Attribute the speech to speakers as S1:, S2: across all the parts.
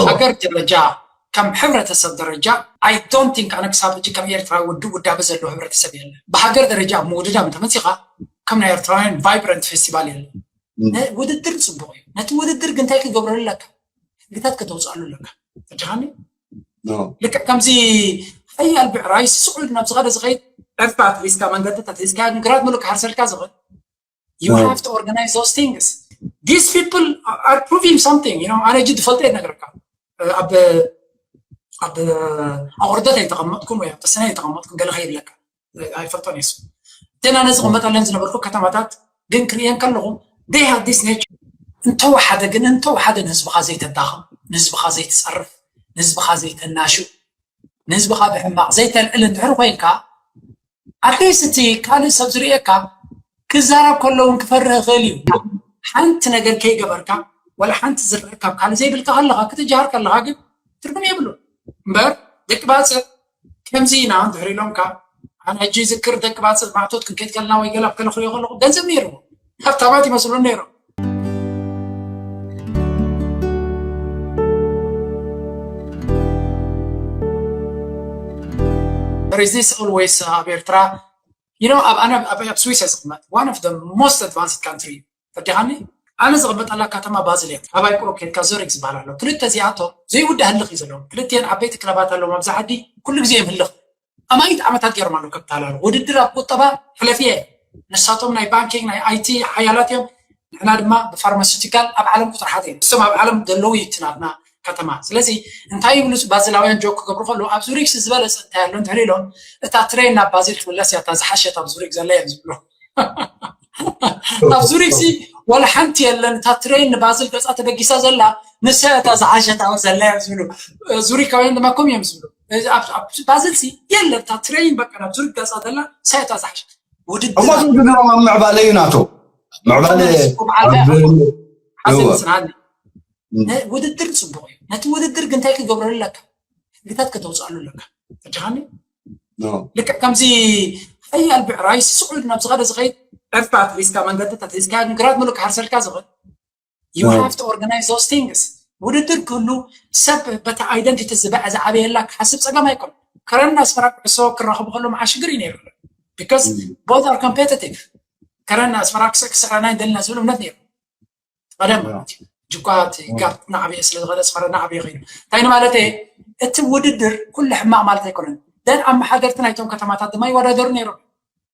S1: ሃገር ደረጃ ከም ሕብረተሰብ ደረጃ I don't think ኣነ ክሳብ ሕጂ ከም ኤርትራዊ ውድብ ውዳበ ዘለዎ ሕብረተሰብ የለን ብሃገር ደረጃ ኣብ ምውድዳም እንተመጺኻ ከም ናይ ኤርትራውያን ቫይብረንት ፌስቲቫል የለን ን ውድድር ጽቡቅ እዩ ነቲ ውድድር ግን እንታይ ክትገብረሉ ኣለካ ሕግታት ከተውጽኣሉ ኣለካ ተረዲኻኒ ልክዕ ከምዚ ሓያል ብዕራይ ስሱዕ ኢሉ ናብ ዝኸደ ዝኸይድ ዕርፊ ኣትሒዝካ መንገዲ ተትሒዝካዮ ግን ግራት ምሉእ ክሓርሰልካ ዝኽእል ዩ ሃቭ ቱ ኦርጋናይዝ ዞስ ቲንግስ ዲስ ፒፕል ኣር ፕሩቪንግ ሳምቲንግ ዩ ኣነ እጅ ትፈልጠ ነገርካ ኣብ ኣብ ኣቑርደት ኣይተቐመጥኩም ወይ ኣብ ተሰነ ኣይተቐመጥኩም ገለ ከይብለካ ኣይፈልጦን የሱ እተን ኣነ ዝቕመጠለን ዝነበርኩ ከተማታት ግን ክርእየን ከለኹ ደይ ሃቭ ዲስ ኔቸር እንተወሓደ ግን እንተወሓደ ንህዝብኻ ዘይተዳኸም ንህዝብኻ ዘይትፀርፍ ንህዝብኻ ዘይተናሹ ንህዝብኻ ብሕማቕ ዘይተልዕል እንድሕር ኮይንካ ኣትሊስት እቲ ካልእ ሰብ ዝርእየካ ክዛረብ ከሎ እውን ክፈርህ ይኽእል እዩ ሓንቲ ነገር ከይገበርካ ወላ ሓንቲ ዝርእ ካብ ካልእ ዘይብልካ ከለኻ ክትጀሃር ከለኻ ግን ትርጉም የብሉ እምበር ደቂ ባፅዕ ከምዚ ኢና እንድሕር ኢሎምካ ኣነ ሕጂ ይዝክር ደቂ ባፅዕ ማእቶት ክንከይድ ከለና ወይ ገለ ከለኽርዮ ከለኹ ገንዘብ ነይርዎ ሃብታማት ይመስሉ ነይሮም ሪዚስ ኦልዌይስ ኣብ ኤርትራ ዩኖ ኣብ ኣነ ኣብ ስዊስ እየ ዝቕመጥ ዋን ኦፍ ሞስት ኣድቫንስድ ካንትሪ ፈዲኻኒ ኣነ ዝቕመጠላ ከተማ ባዝል እያ ኣባይ ቁሩብ ኬድካ ዞሪክ ዝበሃል ኣሎ ክልተ እዚኣቶም ዘይውዳእ ህልኽ እዩ ዘለዎም ክልቲኤን ዓበይቲ ክለባት ኣለዎም ኣብዛ ዓዲ ኩሉ ግዜ እዮም ህልኽ ኣማኢት ዓመታት ገይሮም ኣለዉ ከታላሉ ውድድር ኣብ ቁጠባ ሕለፍየ ንሳቶም ናይ ባንኪንግ ናይ ኣይቲ ሓያላት እዮም ንሕና ድማ ብፋርማሲቲካል ኣብ ዓለም ቁፅሪ ሓደ እዮም እሶም ኣብ ዓለም ዘለዉ እዩ ትናትና ከተማ ስለዚ እንታይ ይብሉ ባዝላውያን ጆክ ክገብሩ ከለዉ ኣብ ዙሪክስ ዝበለፀ እንታይ ኣሎ እንድሕሪ ኢሎም እታ ትሬን ናብ ባዚል ክምለስ እያ እታ ዝሓሸት ኣብ ዙሪክ ዘላ እዮም ዝብሉ ኣብ ዙሪክሲ ወላ ሓንቲ የለን እታ ትሬን ንባዝል ገፃ ተበጊሳ ዘላ ንሳ እታ ዝሓሸት ኣብ ዘላ እዮም ዝብሉ ዙሪካውያን ድማ ከምኡ እዮም ዝብሉ ባዘልሲ የለ እታ ትሬይን በቃ ናብ ዝርጋፃ ዘላ ሳይታ ዝሓሸት ውድድር እሞ
S2: ዝድሮም ኣብ ምዕባለ እዩ ናቶ ምዕባለ
S1: ውድድር ፅቡቅ እዩ ነቲ ውድድር ግን እንታይ ክገብረሉ ኣለካ ሕግታት ከተውፅኣሉ ኣለካ ፈጃኻኒ ልክዕ ከምዚ ሓያል ብዕራይ ስዑድ ናብ ዝኸደ ዝኸይድ ዕርፍታት ሒዝካ መንገድታት ሒዝካ ግራት ምሉእ ክሓርሰልካ ዝኽእል ዩ ሃቭ ቱ ኦርጋናይዝ ዞስ ቲንግስ ውድድር ክህሉ ሰብ በቲ ኣይደንቲቲ ዝበዐ ዝዓበየላ ክሓስብ ፀገም ኣይኮነ ከረን ኣስመራ ኩዕሶ ክራኸቡ ከሎም ዓሽግር እዩ ነይሩ ቢካዝ ቦት ኣር ኮምፔቲቲቭ ከረን ኣስመራ ክስዕ ክስዕረና ይደልና ዝብል እምነት ነይሩ ቀደም ማለት እዩ ጅኳ እቲ ጋር ናዕበየ ስለ ዝኸደ ኣስመራ ናዕበየ ኮይኑ እንታይ ንማለት እየ እቲ ውድድር ኩሉ ሕማቕ ማለት ኣይኮነን ደን ኣመሓደርቲ ናይቶም ከተማታት ድማ ይወዳደሩ ነይሮም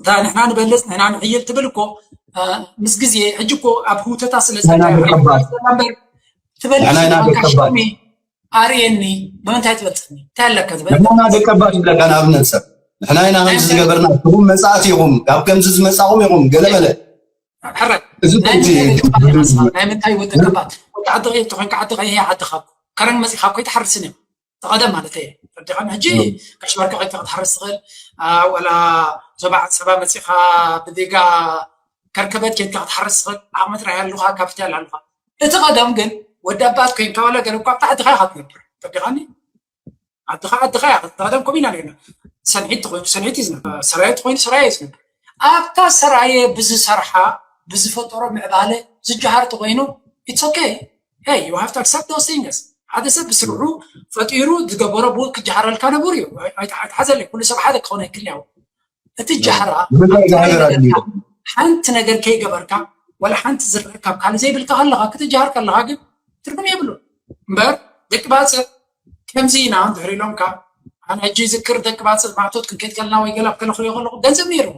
S1: እታ ንሕና ንበልፅ ንሕና ንሕይል ትብል እኮ ምስ ግዜ ሕጂ እኮ ኣብ ህውተታ ስለ ዘለትበልሽሚ ኣርእየኒ ብምንታይ ትበልፅኒ እንታይ ኣለካ ዝበለና ደቀባት ይብለካ
S2: ንኣብነት ሰብ ንሕና ኢና ከምዚ ዝገበርና ትኹም መፃእቲ ኢኹም ካብ ከምዚ ዝመፃኹም ኢኹም ገለመለ ሕራይ
S1: እዚ ናይ ምንታይ ወደቀባት ወዲ ዓዲ ቀይሕቲ ኮንካ ዓዲ ቀይሕ ዓድኻ ከረን መፂኻ እኮ ኣይትሓርስን እዮም ተቐደም ማለተይ እየ ረዲኻን ሕጂ ጋሽ ባርካ ኮይንካ ክትሓርስ ትኽእል ዋላ ዞባ ዓሰባ መፂኻ ብዲጋ ከርከበት ኬድካ ክትሓርስ ትኽእል ዓቕሚ ጥራይ ኣሉኻ ካፒታል ኣሉኻ እቲ ቀደም ግን ወዲ ኣባት ኮይንካ ዋላ ገለ እኳ ኣብቲ ዓድኻ ኢኻ ትነብር ረዲኻኒ ዓድኻ ዓድኻ ኢኻ ቀደም ከምኡ ኢና ነርና ሰንሒት ተኮይኑ ሰንሒት እዩ ዝነብር ሰራየ ተኮይኑ ሰራየ እዩ ዝነብር ኣብታ ሰራየ ብዝሰርሓ ብዝፈጠሮ ምዕባለ ዝጀሃር ተኮይኑ ኢትስ ኦኬ Hey you have to accept those things ሓደ ሰብ ብስርዑ ፈጢሩ ዝገበሮ ብኡ ክጀሃረልካ ንቡር እዩ ኣይትሓዘለይ ኩሉ ሰብ ሓደ ክኾነ ይክል ያው እቲ ጃህራ ሓንቲ ነገር ከይገበርካ ወላ ሓንቲ ዝርእ ካብ ካልእ ዘይብልካ ከለካ ክትጀሃር ከለካ ግን ትርጉም የብሉ እምበር ደቂ ባፅዕ ከምዚ ኢና እንድሕር ኢሎምካ ኣነ ሕጂ ይዝክር ደቂ ባጽዕ ማእቶት ክንከይድ ከለና ወይ ገለ ከለ ክሪኦ ከለኹ ገንዘብ ነይርዎ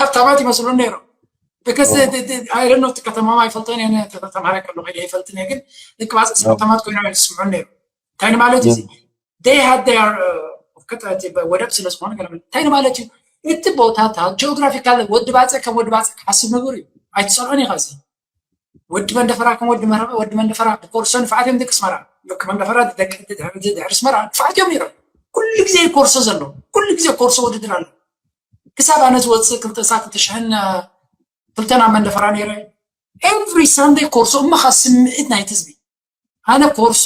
S1: ሃብታማት ይመስሉ ነይሮም ብከስ ኣይደኖ እቲ ከተማማ ይፈልጦን እየ ተተማረ ከሎ ከይደ ይፈልጥን እየ ግን ደቂ ባጽዕ ሃብታማት ኮይኖም እዮም ዝስምዑ ነይሩ እንታይ ንማለት እዩ ደይ ሃድ ደያር ቅጥረት ወደብ ስለ ዝኾነ ገለ እንታይ ንማለት እዩ እቲ ቦታታት ጂኦግራፊካል ወዲ ባጽዕ ከም ወዲ ባጽዕ ክሓስብ ንቡር እዩ ኣይትጸልዖን ኢኻ እዚ ወዲ መንደፈራ ከም ወዲ መረቐ ወዲ መንደፈራ ብኮርሶ ንፋዓት እዮም ደቂ ኣስመራ ሎክ መንደፈራ ደቂ ድሕሪ ኣስመራ ንፋዓት እዮም ነይሮም ኩሉ ግዜ ኮርሶ ዘሎ ኩሉ ግዜ ኮርሶ ውድድር ኣሎ ክሳብ ኣነ ዝወፅእ ክልተ ሳት ክልተ ሽሕን ክልተና መንደፈራ ነይረ ኤቭሪ ሳንደይ ኮርሶ እማኻ ስምዒት ናይቲ ህዝቢ ኣነ ኮርሶ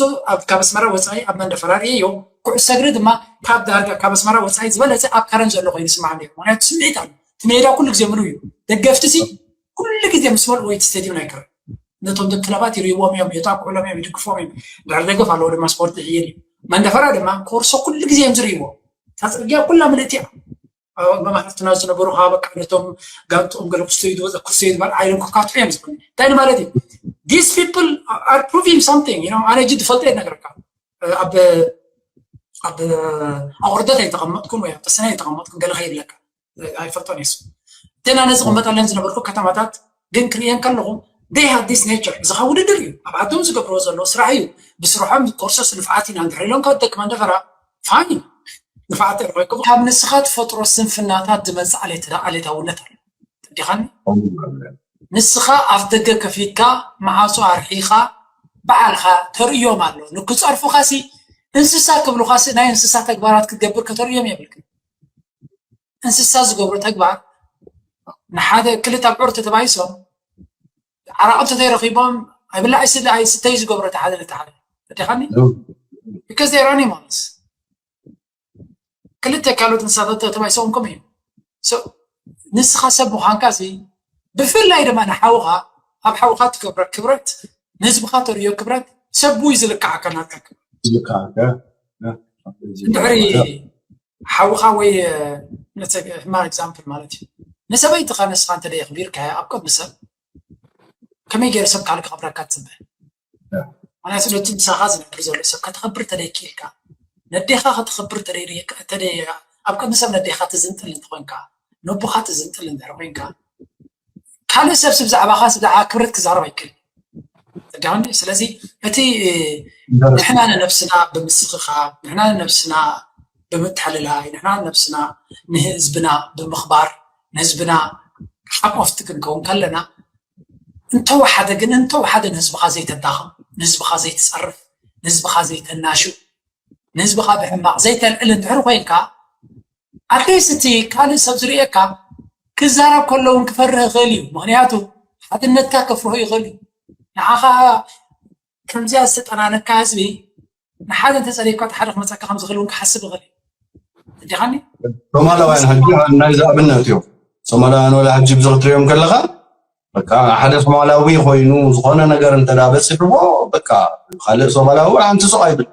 S1: ካብ ኣስመራ ወጻኢ ኣብ መንደፈራ ርእየዮ፣ ኩዕሶ እግሪ ድማ ካብ ዳርጋ ካብ ኣስመራ ወጻኢ ዝበለጸ ኣብ ከረን ዘሎ ኮይኑ ይስምዓኒ እዩ፣ ምኽንያቱ ስምዒት ኣሎ፣ እቲ ሜዳ ኩሉ ግዜ ምሉእ እዩ፣ ደገፍቲሲ ኩሉ ግዜ ምስ መልኡ ወይ እቲ ስቴድዩም ናይ ከረን ነቶም ደቂ ክለባት ይርእይዎም እዮም፣ የጣቅዑሎም እዮም፣ ይድግፍዎም እዮም፣ ድሕሪ ደገፍ ኣለዎ ድማ ስፖርት ይሕይል እዩ፣ መንደፈራ ድማ ኮርሶ ኩሉ ግዜ እዮም ዝርእይዎ፣ እታ ጽርግያ ኩላ ምልእቲ እያ። ኣብ ኣማማሕትትና ዝነበሩ ከዓ በቃ ነቶም ጋንትኦም ገለ ክስተዩ ዝበለ ክስተዩ ዝበል ዓይኖም ክካትዑ እዮም ዝብሉ እንታይ ማለት እዩ ዲስ ፒፕል ኣር ፕሩቪንግ ሳምቲንግ ዩ ኣነ እጅ ዝፈልጦ እየ ነገርካ ኣብ ኣብ ኣቑርደት ኣይተቐመጥኩን ወይ ኣብ ተሰነ ኣይተቐመጥኩን ገለ ከይብለካ ኣይፈልጦን የሱ እተን ኣነ ዝቕመጠለን ዝነበርኩ ከተማታት ግን ክርእየን ከለኹ they have this nature ብዝኻ ውድድር እዩ ኣብ ዓዶም ዝገብርዎ ዘለዎ ስራሕ እዩ ብስርሖም ኮርሶስ ንፍዓት ኢና እንድሕር ኢሎም ካብ ደቂ መንደፈራ ፋኒ ንፍዓት ተረኺብኩም ካብ ንስኻ ትፈጥሮ ስንፍናታት ዝመጽእ ዓሌት ዓሌታውነት ኣሎ ተዲኻኒ ንስኻ ኣፍ ደገ ከፊትካ መዓጾ ኣርሒኻ በዓልኻ ተርእዮም ኣሎ ንክጸርፉኻ ሲ እንስሳ ክብልኻ ሲ ናይ እንስሳ ተግባራት ክትገብር ከተርእዮም የብልክን እንስሳ ዝገብሮ ተግባር ንሓደ ክልተ ኣብዑር ተተባይሶም ዓራቕ እንተዘይረኺቦም ኣይብላ ኣይስለ ኣይስተይ ዝገብሮ እቲ ሓደ ነቲ ሓደ ረዲኻኒ because they are animals ክልተ ካልኦት እንስሳታት ተባይሶም ከምኡ እዩ ንስኻ ሰብ ምዃንካ እዚ ብፍላይ ድማ ንሓውኻ ኣብ ሓውኻ ትገብረ ክብረት ንህዝብኻ ተርእዮ ክብረት ሰብዊ ዝልክዓካ ናትካ ክብረት
S2: ዝልክዓካ
S1: እንድሕሪ ሓውኻ ወይ ሕማቕ ኤግዛምፕል ማለት እዩ። ንሰበይትኻ ንስኻ እንተ የኽቢርካያ ኣብ ቅድሚ ሰብ ከመይ ገይሩ ሰብ ካልእ ከኽብረካ ትጽበ? ምክንያቱ ነቲ ምሳኻ ዝነብር ዘሎ ሰብ ከተኽብር እንተ ክኢልካ ነዴኻ ከተኽብር እንተ ኣብ ቅድሚ ሰብ ነዴኻ ትዝንጥል እንተ ነቦኻ ትዝንጥል እንድሕር ኮይንካ ካልእ ሰብ ስብ ዛዕባኻ ስብ ዛዕባ ክብረት ክዛረብ ኣይክእል ተዳኒ ስለዚ እቲ ንሕና ንነብስና ብምስኽኻ ንሕና ንነብስና ብምትሕልላይ ንሕና ንነብስና ንህዝብና ብምኽባር ንህዝብና ሓቆፍቲ ክንከውን ከለና እንተወሓደ ግን እንተወሓደ ንህዝብኻ ዘይተዳኸም ንህዝብኻ ዘይትፀርፍ ንህዝብኻ ዘይተናሽው ንህዝብኻ ብሕማቕ ዘይተልዕል እንድሕር ኮይንካ ኣትሊስት እቲ ካልእ ሰብ ዝርእየካ ክዛረብ ከሎ እውን ክፈርህ ይኽእል እዩ ምክንያቱ ሓድነትካ ከፍርሆ ይኽእል እዩ ንዓኻ ከምዚኣ ዝተጠናነካ ህዝቢ ንሓደ እንተፀሪፍካ እቲ ሓደ ክመፀካ ከም ዝኽእል እውን ክሓስብ ይኽእል እዩ እንዲኻኒ ሶማላውያን
S2: ሕጂ ናይዚ ኣብነት እዮም ሶማላውያን ወላ ሕጂ ብዚ ክትሪኦም ከለኻ በቃ ሓደ ሶማላዊ ኮይኑ ዝኾነ ነገር እንተ በፂሕዎ በቃ ካልእ ሶማላዊ ሓንቲ ሱቕ ኣይብል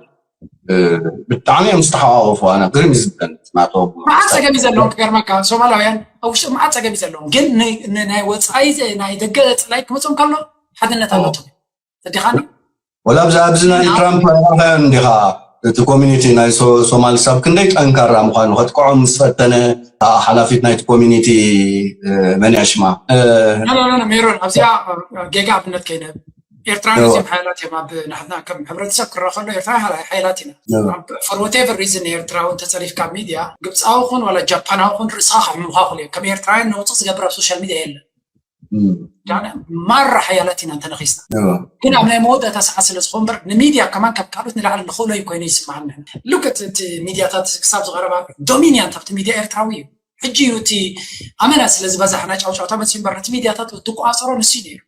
S2: ብጣዕሚ እዮም ዝተሓዋወፉ ኣነ ግርም ዝብለን ናቶም መዓት ፀገም እዩ ዘለዎም
S1: ክገርመካ ሶማላውያን ኣብ ውሽጢ መዓት ፀገም እዩ ዘለዎም ግን ናይ ወፃኢ ናይ ደገ ፅላይ ክመፆም ከሎ ሓድነት ኣለቶም ፈዲኻኒ ወላ ኣብዚ
S2: ኣብዚ ናይ ግን ትራምፕ ኣይረኣኻዮን እንዲኻ እቲ ኮሚኒቲ ናይ ሶ- ሶማል ክሳብ ክንደይ ጠንካራ ምዃኑ ከጥቅዖም ምስ ፈተነ እታ ሓላፊት ናይቲ ኮሚኒቲ እ፣ መን እያ ሽማ እ፣ ኖ ኖ ኖ ኖ፣
S1: ሜሮን ኣብዚኣ እ፣ ጌጋ ኣብነት ከይንህብ ኤርትራውያን እዋ፣ እዚኦም ሓያላት እዮም ኣብ ንሕና ከም ሕብረተሰብ ክረኣ ከሎ ኤርትራውያን ሓያ- ሓያላት ኢና እዋ፣ ፎር ወቴቨር ሪዝን ኤርትራዊ እንተፀሪፍካ ኣብ ሚድያ ግብፃዊ ኹን ዋላ ጃፓናዊ ኹን ርእስኻ ክሕምምኻ ይኽእሉ እዮም ከም ኤርትራውያን ነውፅእ ዝገብር ኣብ ሶሻል ሚድያ የለን ማራ ሓያላት ኢና እንተነኺስና ግን ኣብ ናይ መወዳእታ ሰዓት ስለ ዝኾን በር ንሚድያ ከማን ካብ ካልኦት ንላዕሊ ንኽእሎ እዩ ኮይኑ ይስምዓኒ ልክት እቲ ሚድያታት ክሳብ ዝቐረባ ዶሚንያ እንታብቲ ሚድያ ኤርትራዊ እዩ ሕጂ እዩ እቲ ኣመና ስለ ዝበዛሕና ጫውጫውታ መፅኡ እምበር ነቲ ሚድያታት ዝቆፃፀሮ ንሱ እዩ ነይሩ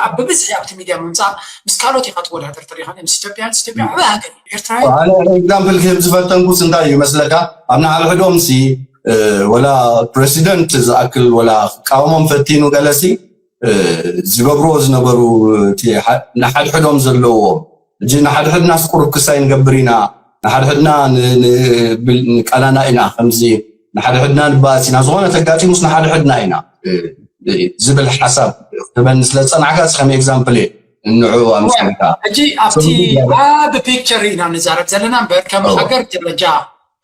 S1: ኣብ ብብዝሒ ኣብቲ ሚድያ ምምፃእ ምስ ካልኦት ኢኻ ትወዳደር ተሪኻ ምስ ኢትዮጵያ ምስ ኢትዮጵያ ዓበ ሃገር ኤርትራዊ ኣነ ኤግዛምፕል
S2: ክህብ ዝፈተንኩስ እንታይ እዩ መስለካ ኣብ ንሓድሕዶም ሲ ወላ ፕረሲደንት ዝኣክል ወላ ክቃወሞም ፈቲኑ ገለሲ ዝገብርዎ ዝነበሩ እቲ ንሓድሕዶም ዘለዎ እጂ ንሓድሕድናስ ቁሩብ ክሳይ ንገብር ኢና ንሓድሕድና ንቃላና ኢና ከምዚ ንሓድሕድና ንባኣስ ኢና ዝኾነ ተጋጢሙስ ንሓድሕድና ኢና ዝብል ሓሳብ ክትበኒ ስለ ዝጸናዕካ እዚ ከም ኤግዛምፕል እየ ንዕኡ ኣምሲልካ ሕጂ ኣብቲ
S1: ኣብ ፒክቸር ኢና ንዛረብ ዘለና እምበር ከም ሃገር ደረጃ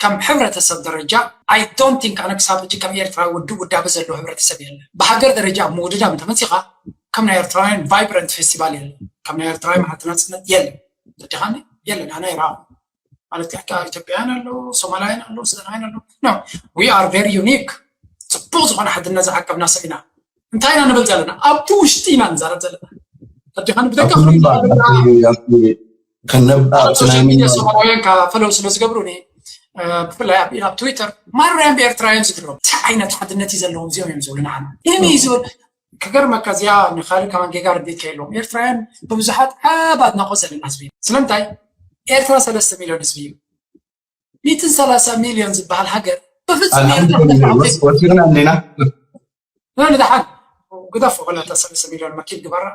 S1: ከም ሕብረተሰብ ደረጃ ኣይ ዶንት ቲንክ ኣነ ክሳብ ሕጂ ከም ኤርትራዊ ውዱእ ውዳበ ዘለዎ ሕብረተሰብ የለን ብሃገር ደረጃ ኣብ ምውድዳብ እንተመጺኻ ከም ናይ ኤርትራውያን ቫይብረንት ፌስቲቫል የለን ከም ናይ ኤርትራዊ መዓልቲ ናጽነት የለን ተረዲኻኒ የለን ኣነ ኣይረኣኹን ማለት ከኣ ኢትዮጵያውያን ኣለዉ ሶማላውያን ኣለዉ ሱዳናውያን ኣለዉ ኖ ዊ ኣር ቨሪ ዩኒክ ጽቡቕ ዝኾነ ሓድነት ዝዓቀብና ሰብ ኢና እንታይ ኢና ንብል ዘለና ኣብቲ ውሽጢ ኢና ንዛረብ ዘለና ተዲኻን ብደቀ
S2: ሶሻል ሚድያ ሶማላውያን
S1: ካብ ፈለው ስለ ዝገብሩኒ ብፍላይ ኣብ ትዊተር ማርያም ብኤርትራውያን ዝድረቡ እንታይ ዓይነት ሓድነት እዩ ዘለዎም እዚኦም እዮም ዝብሉ ንዓና ኢሚ እዩ ዝብል ክገርመካ እዚኣ ንካልእ ከማን ጌጋ ርድኢት ከይለዎም ኤርትራውያን ብብዙሓት ዓብ ኣድናቆት ዘለና ህዝቢ ስለምንታይ ኤርትራ ሰለስተ ሚልዮን ህዝቢ እዩ ሚትን ሰላሳ ሚልዮን ዝበሃል ሃገር ብፍፁም ኤርትራ ዲና ንድሓን ግደፎ ክለተ
S2: ሰለስተ
S1: ሚልዮን መኪን ግበራ